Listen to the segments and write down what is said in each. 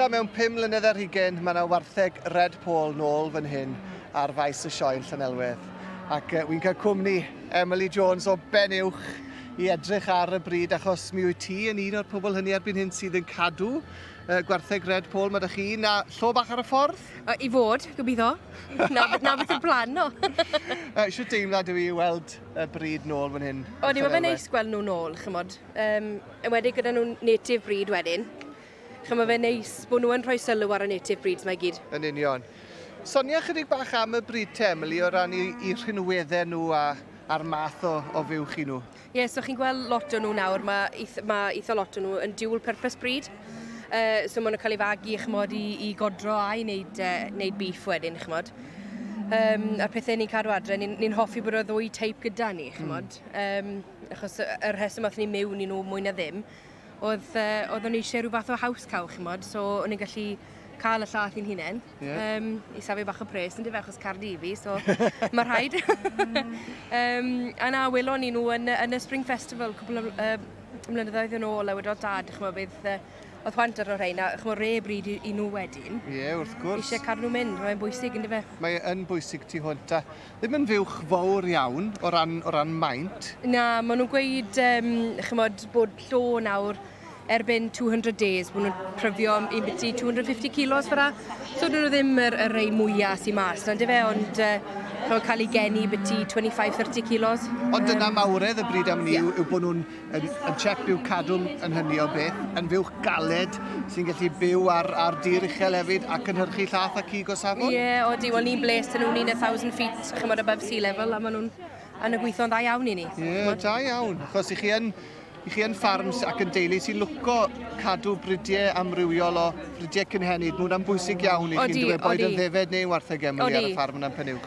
Eto mewn pum mlynedd ar hugain mae 'na wartheg red pole nôl fan hyn ar faes y sioe yn Llanelwedd ac wi'n cael cwmni Emily Jones o Benuwch i edrych ar y bryd achos mi wyt ti yn un o'r pobl hynny erbyn hyn sydd yn cadw uh, gwartheg red pole mae da chi na llo bach ar y ffordd? Uh, I fod, gobeithio. na, na beth y plan no. uh, Siw deimlad yw i weld y bryd nôl fan hyn? O, ni mae fe'n neis gweld nhw nôl, chymod. Um, enwedig gyda nhw'n native bryd wedyn. Ch'mo' ma' fe'n neis bo' nhw yn rhoi sylw ar y native breeds 'ma i gyd. Yn union. Sonia ychydig bach am y brid te Emily o ran 'u 'u rhinwedde nhw a a'r math o o fuwch i nhw. Ie so chi'n gweld lot o nhw nawr ma' ith- ma' itha lot o nhw yn dual purpose breed yy so ma' nhw'n cael eu fagu ch'mod i i godro ai neud yy neud beef wedyn ch'mod. Yym a'r pethe ni'n cadw adre ni'n ni'n hoffi bod y ddwy teip gyda ni ch'mod. Hmm. Yym achos y y rheswm athon ni miwn i nhw mwy na ddim oedd, uh, oeddwn ni eisiau rhyw fath o house cow, chi'n modd, so o'n i'n gallu cael y llath i'n hunain. Yeah. Um, I safio bach o pres yn dyfa achos car di fi, so mae rhaid. um, a na, welon ni nhw yn, yn y Spring Festival cwbl o uh, mlynyddoedd yn ôl, a wedodd dad, chmo, bydd uh, oedd hwant ar o'r rhain, a chmo, re bryd i, i nhw wedyn. Ie, yeah, wrth gwrs. Eisiau cadw nhw mynd, mae'n bwysig yn dyfa. Mae'n bwysig ti hwnt, a Ddim yn fuwch fawr iawn o ran o ran maint. Na, ma' nhw'n gweud yym ch'mod bod llo nawr erbyn two hundred days ma' nhw'n pryfio yym un biti two hundred and fifty kilos fel'a. So 'dyn nhw ddim yr y rei mwya sy mas 'na yndyfe ond yy ch'mod ca'l 'u geni biti twenty five thirty kilos. Ond dyna mawredd y brid am wn i yw yw bo' nhw'n Yn, yn chep byw cadwm yn hynny o beth, yn fuwch galed sy'n gallu byw ar, ar dir uchel hefyd ac yn hyrchu llath a cig o safon? Ie, yeah, o di, wel ni'n bles dyn nhw'n un a thousand feet, chymod above sea level, a maen nhw'n yn y gweithio'n dda iawn i ni. Ie, yeah, da iawn, achos i chi yn i chi yn ffarms ac yn deulu sy'n lwco cadw bridiau amrywiol o bridiau cynhenid. Mae hwnna'n bwysig iawn i chi'n dweud boed yn ddefed neu wartheg emily ar y ffarm yna'n Penyw.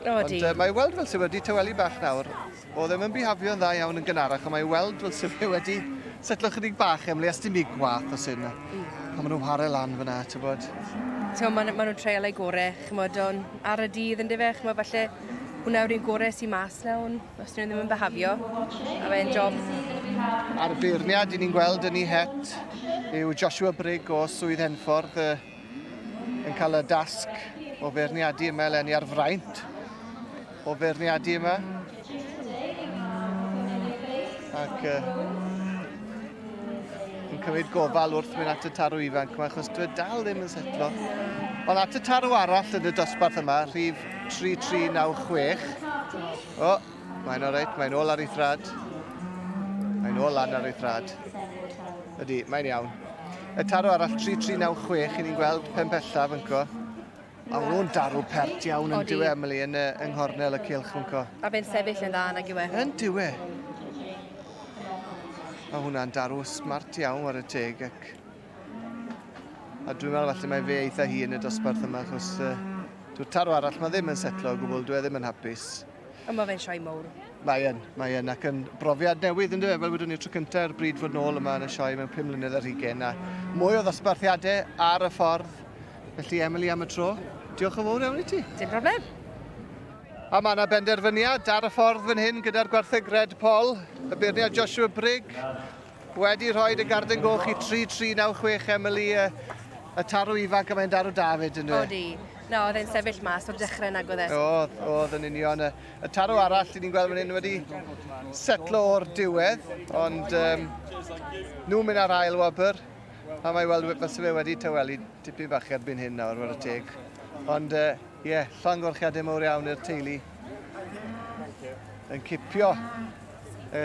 Ond uh, mae weld fel sydd wedi tawelu bach nawr. O ddim yn bihafio'n dda iawn yn gynharach, ond mae weld fel sydd fe wedi setlo chydig bach, Emily, a sdim i gwath o sy'n pan maen nhw'n whare lan fyna, ti'n bod. Ti'n maen ma nhw'n treol ei gore, chymod, o'n ar y dydd yn dife, chymod, falle hwnna yw'r un gore sy'n mas na, ond os dyn nhw ddim yn behafio, a fe'n job. A'r beirniad i ni'n gweld yn ei het yw Joshua Brigg o Swydd Henffordd, uh, yn cael y dasg o feirniadu yma eleni ar fraint o feirniadu yma. Ac uh, yn cymryd gofal wrth mynd at y tarw ifanc yma, achos dwi dal ddim yn setlo. Ond at y tarw arall yn y dosbarth yma, rhif 3396. O, Mae'n alright, mae'n ôl ar ei thrad. Mae'n ôl lan ar ei thrad. Ydy, mae'n iawn. Y taro arall 3396, i ni'n gweld pen pellaf yn co. A nhw'n darw pert iawn yn diwe Emily yn, uh, yng nghornel y cilch yn co. A fe'n sefyll yn dda yn ag iwe. Yn diwe. Mae hwnna'n darw smart iawn ar y teg ac... A dwi'n meddwl falle mae fe eitha hi yn y dosbarth yma achos uh, dwi'n taro arall mae ddim yn setlo o gwbl, dwi e ddim yn hapus. A mae fe'n sioe mowr. Mae yn, mae yn, ac yn brofiad newydd yn dweud, fel wedwn ni'r tro cyntaf, er bryd fod nôl yma yn y sioe mewn 5 mlynedd ar hugen, a mwy o ddosbarthiadau ar y ffordd. Felly, Emily, am y tro, diolch yn fawr iawn i ti. Dim problem. A mae yna benderfyniad ar y ffordd fan hyn gyda'r gwartheg Red Paul, y beirniad Joshua Brigg, Wedi rhoed y garden goch i 3396 Emily yy y tarw ifanc a mae'n darw da 'fyd yndyw e? Odi. Na oedd e'n sefyll mas o'r dechre nag oedd e? Oedd, oedd yn union. Y y tarw arall 'yn ni'n gweld fan 'yn wedi setlo o'r diwedd ond yym nhw'n mynd ar ail wobr a mae weld we- fyse fe wedi tawelu tipyn bach erbyn hyn nawr ware teg. Ond yy ie, llongyfarchiade mowr iawn i'r teulu yn cipio y